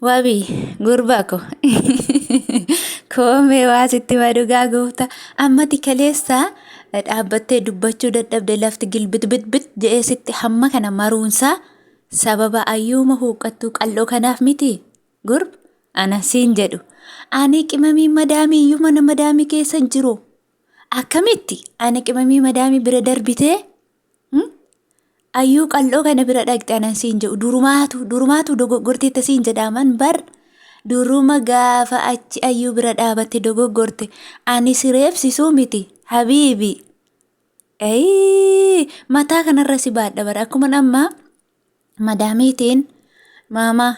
Wabi gurbaa ko koomee waa sitti ma dhugaa goofta ammati kaleessa dhaabbattee dubbachuu dadhabde lafti gilbitbitbit jedhee sitti hamma kana maruunsaa sababa ayyuuma huuqqattuu qal'oo kanaaf miti gurb ana siin jedhu ani qimamii madaamii iyyuu mana madaamii keessa hin jiru akkamitti ani qimamii madaamii bira darbitee Ayyuu qal'oo kana bira dhaqxe anan siin jedhu durumaatu durumaatu dogoggorteetta siin jedhaaman bar duruma gaafa achi ayyuu bira dhaabatte dogoggorte ani si reebsisuu miti habiibi. Ayii mataa kanarra si baadha bara akkuma ammaa madaamiitiin maamaa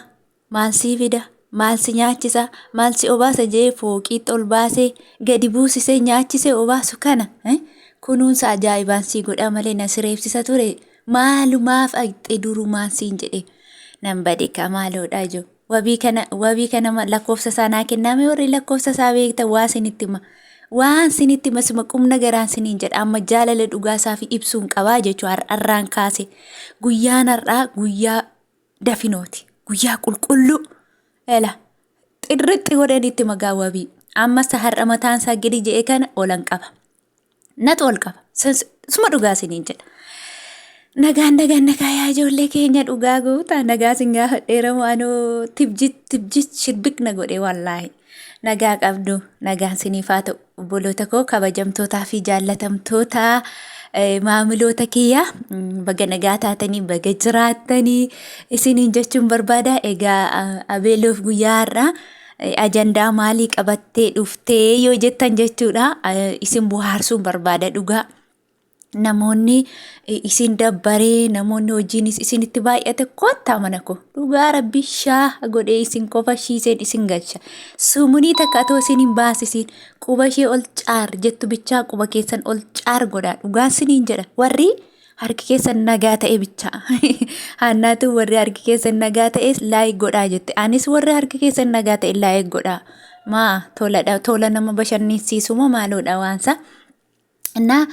maal sii fida maal si nyaachisa maal si obaasa jee fooqiitti ol baasee gadi buusisee nyaachisee obaasu kana eh, kunuunsa ajaa'ibaan sii godhaa malee na sireebsisa ture maalumaaf dhaqxe durumaan siin jedhe nan bade kaa maaloodha ijoo. Wabii kana wabii kana ma- lakkoofsa isaa naa kennaa mee warri lakkoofsa isaa beektan waa sinitti hima waan sinitti hima sima qumna garaan siniin jedha amma jaalala dhugaa isaa fi ibsuun qabaa jechuu har'arraan kaase guyyaan har'aa guyyaa dafinooti guyyaa qulqulluu ela xirrixxi godhanitti magaa wabii ammasa har'a mataan isaa gadi je'e kana olan qaba natu ol qaba suma dhugaa siniin jedha. Nagaan nagaan nagaa yaa ijoollee keenya dhugaa goota nagaa sin gaafa dheeramu anoo tibjit tibjit shiddiq na godhe wallaahi. Nagaa qabdu nagaan siniif haa ta'u obboloota koo kabajamtootaa fi jaallatamtoota maamiloota kiyyaa baga nagaa taatanii baga jiraattanii isiniin jechuun barbaada egaa abeeloof guyyaa har'aa ajandaa maalii qabattee dhuftee yoo jettan jechuudha isin bohaarsuun barbaada dhugaa. Namoonni isin dabbaree namoonni hojiinis isinitti baay'ate kottaa mana koo dhugaa rabbi shaa godhee isin qofa shiiseen isin galcha sumunii takka atoo isin hin baasisiin quba ishee ol caar jettu bichaa quba keessan ol caar godhaa dhugaa isiniin jedha warri Harki keessan nagaa ta'e bicha. Haannaatu warri harki keessan nagaa ta'e laayik godhaa jette. Anis warri harki keessan nagaa ta'e laayik godhaa. Maa toladha tola nama bashannansiisu moo maaloodha waansa. Innaa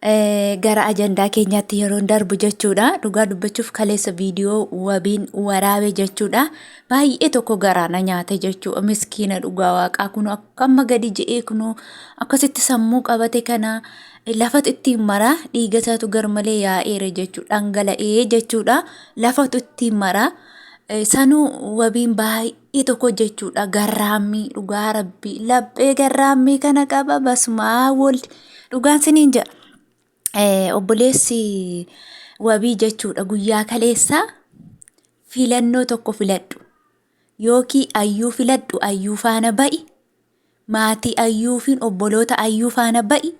eh, gara ajandaa keenyaatti yeroon darbu jechuudha. Dhugaa dubbachuuf kaleessa viidiyoo wabiin waraabe jechuudha. Baay'ee tokko garaa na nyaate jechuudha. Miskiina dhugaa waaqaa kun akka amma gadi je'ee kun akkasitti sammuu qabate kana lafatu ittiin mara dhiiga isaatu garmalee yaa'eera jechuudha dhangala'ee jechuudha lafatu ittiin mara sanuu wabiin baay'ee tokko jechuudha garraammii dhugaa rabbii laphee garraammii kana qaba basumaa woldi dhugaan siniin jedha Eh, obboleessi wabii jechuudha guyyaa kaleessaa filannoo tokko filadhu Yookii Ayyuu filadhu Ayyuu faana ba'i, maatii Ayyuu fi obboloota Ayyuu faana ba'i,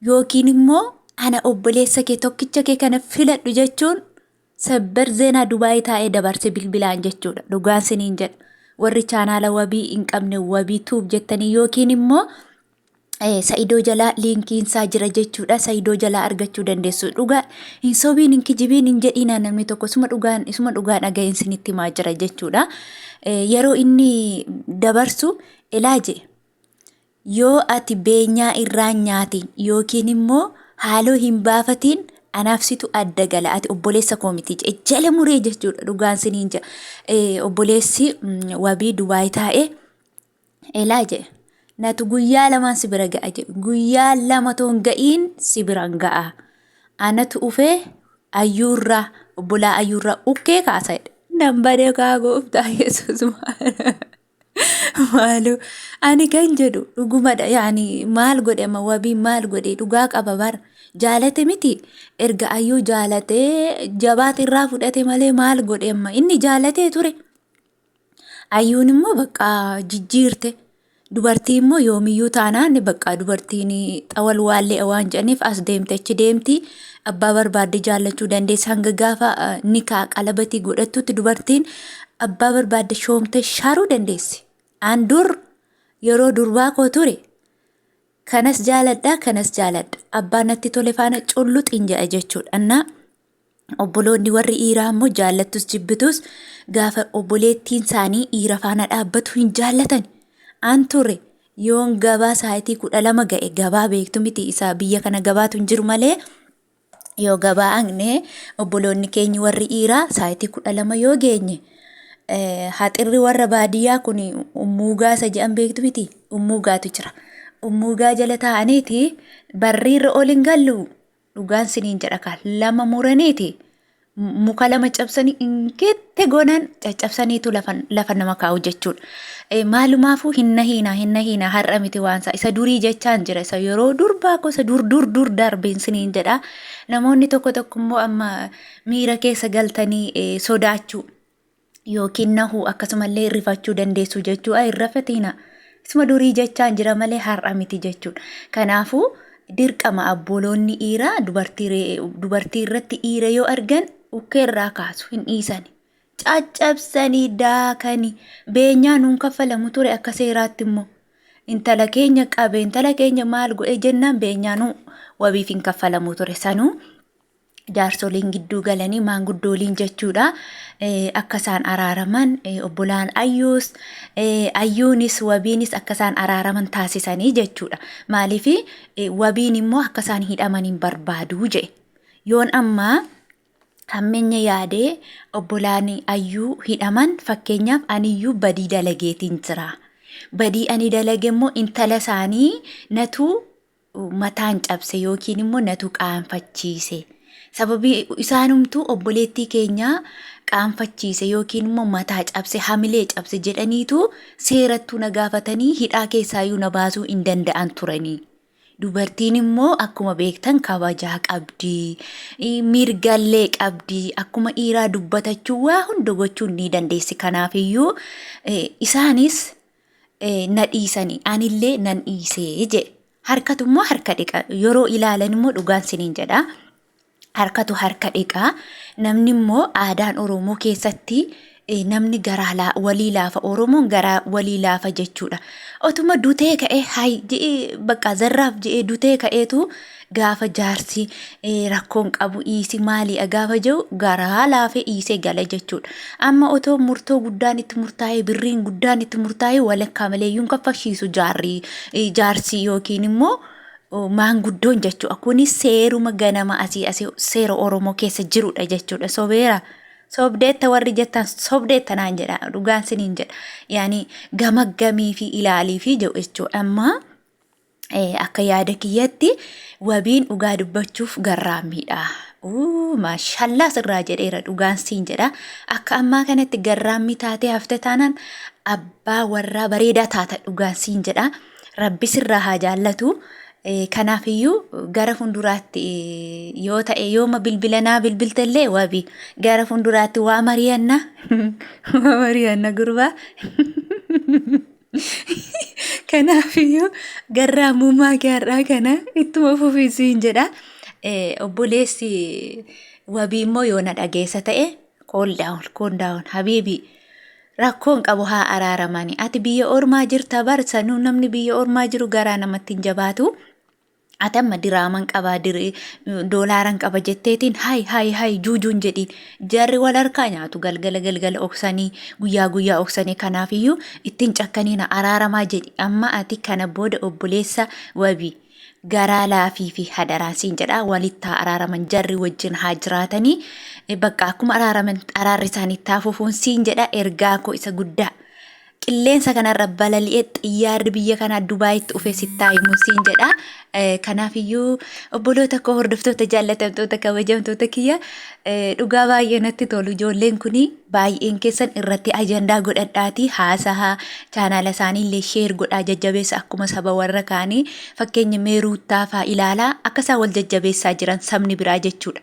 yookiin immoo ana obboleessa kee tokkicha kee kana filadhu jechuun sabbar zeenaa Dubaayii taa'ee dabarse bilbilaan jechuudha. Dhugaan siniin jedha. Warri chaanaala wabii hin qabne wabii tuub jettanii yookiin immoo Eh, Sa'idoo jalaa liinkiin isaa jira jechuudha. Sa'idoo jalaa argachuu dandeessu. Dhugaa hin sobiin hin kijibiin hin jedhiinaa namni tokko isuma dhugaan isuma dhugaa dhaga'een sinitti himaa jira jechuudha. Eh, Yeroo inni dabarsu ilaa jee yoo ati beenyaa irraa hin nyaatiin yookiin immoo haaloo hin baafatiin anaaf situ adda gala ati obboleessa koo miti jee jala muree jechuudha dhugaan siniin jaa. Eh, Obboleessi mm, wabii Dubaay taa'ee Elaa jedhe. Natu guyyaa lamaan si bira ga'a jedhe. Guyyaa lama toon ga'iin si biraan ga'a. Anatu ufee ayyuurraa obbolaa ayyuurraa ukkee kaasa jedhe. Nan badee kaa gooftaa Yesuus maaloo ani kan jedhu dhugumadha yaani maal godhe amma wabii maal godhe dhugaa qaba bara jaalate miti erga ayyuu jaalatee jabaate irraa fudhate malee maal godhe amma inni jaalatee ture. Ayyuun immoo bakka jijjiirte. Dubartii immoo yoomiyyuu taanaan bakka dubartiin xawal waallee waan jedhaniif as deemte achi deemti. Abbaa barbaadde jaallachuu dandeessa hanga gaafa eh, nikaa qalabatii godhattutti dubartiin abbaa barbaadde shoomte shaaruu dandeessi. Aan dur yeroo durbaa koo ture kanas jaaladha kanas jaaladha abbaa natti tole faana culluxin jedha jechuudha. Annaa Obboloonni warri dhiiraa immoo jaallattus jibbitus gaafa obboleettiin isaanii dhiira faana dhaabbatu hin jaallatan. An ture yoon gabaa saayitii kudha lama ga'e gabaa beektu miti isaa biyya kana gabaatu hin jiru malee yoo gabaa agne obboloonni keenyi warri dhiiraa saayitii kudha lama yoo geenye eh, haxirri warra baadiyyaa kun ummuugaa isa jedhan beektu miti ummuugaatu jira. Ummuugaa jala taa'aniiti barriirra ol hin gallu dhugaan siniin jedha kaa lama muraniiti muka lama cabsanii ingeette goonaan caccabsaniitu lafa nama kaa'u jechuudha. Maalumaafuu hinna hiinaa hinna hiinaa har'a miti waansaa isa durii jechaan jira isa yeroo durbaa gosa dur dur dur darbeen siniin jedha. Namoonni tokko tokko immoo amma miira keessa galtanii sodaachuu. yookiin nahuu akkasumallee rifachuu dandeessu jechuu ay rafatiina isuma durii jechaan jira malee har'a miti jechuudha kanaafuu dirqama abboloonni dhiiraa dubartii irratti dhiira yoo argan ukkee irraa kaasu hin dhiisani caccabsanii daakani beenyaa nuun kaffalamu ture akka seeraatti immoo intala keenya qabe intala keenya maal godhe jennaan beenyaa nuu wabiif hin kaffalamu ture sanuu jaarsoliin gidduu galanii maanguddooliin jechuudha akka isaan araaraman obbolaan ayyuus ayyuunis wabiinis akka isaan araaraman taasisanii jechuudha maaliif wabiin immoo akka isaan hidhaman hin barbaadu jee yoon ammaa hammenya yaadee obbolaan ayyuu hidhaman fakkeenyaaf aniyyuu badii dalageetiin jira badii ani dalage immoo intala isaanii natuu mataan cabse yookiin immoo natu qaanfachiise. Sababii isaanumtuu obboleettii keenyaa qaanfachiise yookiin immoo mataa cabse hamilee cabse jedhaniitu seerattuu na gaafatanii hidhaa keessaayyuu na baasuu hin danda'an turanii. Dubartiin immoo akkuma beektan kabajaa qabdi. i- Mirgallee qabdi. Akkuma dhiiraa dubbatachuu waa hunda gochuun ni dandeessi. Kanaafiyyuu eh, isaanis na dhiisanii anillee nan dhiisee jedhe. Harkatu immoo harka dhiqa. Yeroo ilaalan immoo dhugaan siniin jedha. Harkatu harka dhiqa. Namni immoo aadaan Oromoo keessatti eh, namni garaa laa- walii laafa. Oromoon garaa walii laafa jechuudha. Otuma dutee ka'ee hay je'ee bakka zarraaf je'ee dutee ka'eetu gaafa jaarsi rakkoon qabu dhiisi maaliidha gaafa jiru garaa laafee dhiisee gala jechuudha. Amma otoo murtoo guddaan itti murtaa'ee birriin guddaan itti murtaa'ee walakkaa malee iyyuu hin kaffalchiisu jaarri jaarsi yookiin immoo maanguddoon jechuudha. Kunis seeruma ganama asii asii seera Oromoo keessa jirudha jechuudha. Sobeera. Sobdeetta warri jettan sobdeetta naan jedha dhugaan siniin jedha. Yaani gamaggamii fi ilaalii fi jedhu jechuudha. Amma akka yaada kiyyatti wabiin dhugaa dubbachuuf garraammiidha. Uu maashallaa sirraa jedheera dhugaan siin jedha. Akka ammaa kanatti garraammii taatee hafte taanaan abbaa warraa bareedaa taata dhugaan siin jedha. Rabbi sirraa haa jaallatu. Eh, Kanaafiyyuu gara fuulduraatti eh, yoo ta'e yooma bilbilanaa bilbiltellee wabi gara fuulduraatti waa mari'anna waa mari'anna gurbaa Kanaafiyyuu garraa muummaa kee har'aa kana ittuma fufii siin jedha. Obboleessi wabii immoo yoo na dhageessa ta'e kool daawun kool daawun habiibii rakkoon qabu haa araaramani. Ati biyya ormaa jirta barsa namni biyya ormaa jiru garaa namatti hin jabaatu. Ati amma diraaman qaba, dir- doolaaran qaba jetteetiin hayi hayi hayi juujuun jedhiin. Jarri wal harkaa nyaatu galgala galgala oksanii guyyaa guyyaa oksanii kanaafiyyuu ittiin cakkaniina araaramaa jedhi. Amma ati kana booda obboleessa wabi garaa laafii fi hadaraan siin jedha walitti haa araaraman jarri wajjin haa jiraatanii. Eh, Bakka akkuma araaraman araarri isaanii itti haa fufuun siin jedha ergaa koo isa guddaa. qilleensa kanarra balali'ee xiyyaarri biyya kanaa Dubaayitti dhufee sittaa himuun siin jedha. Kanaafiyyuu obboloota koo hordoftoota jaallatamtoota kabajamtoota kiyya dhugaa baay'ee natti tolu ijoolleen kun baay'een keessan irratti ajandaa godhadhaatii haasahaa chaanaala isaanii illee sheer godhaa jajjabeessa akkuma saba warra kaanii fakkeenya meeruuttaa fa'aa ilaalaa akka isaan wal jajjabeessaa jiran sabni biraa jechuudha.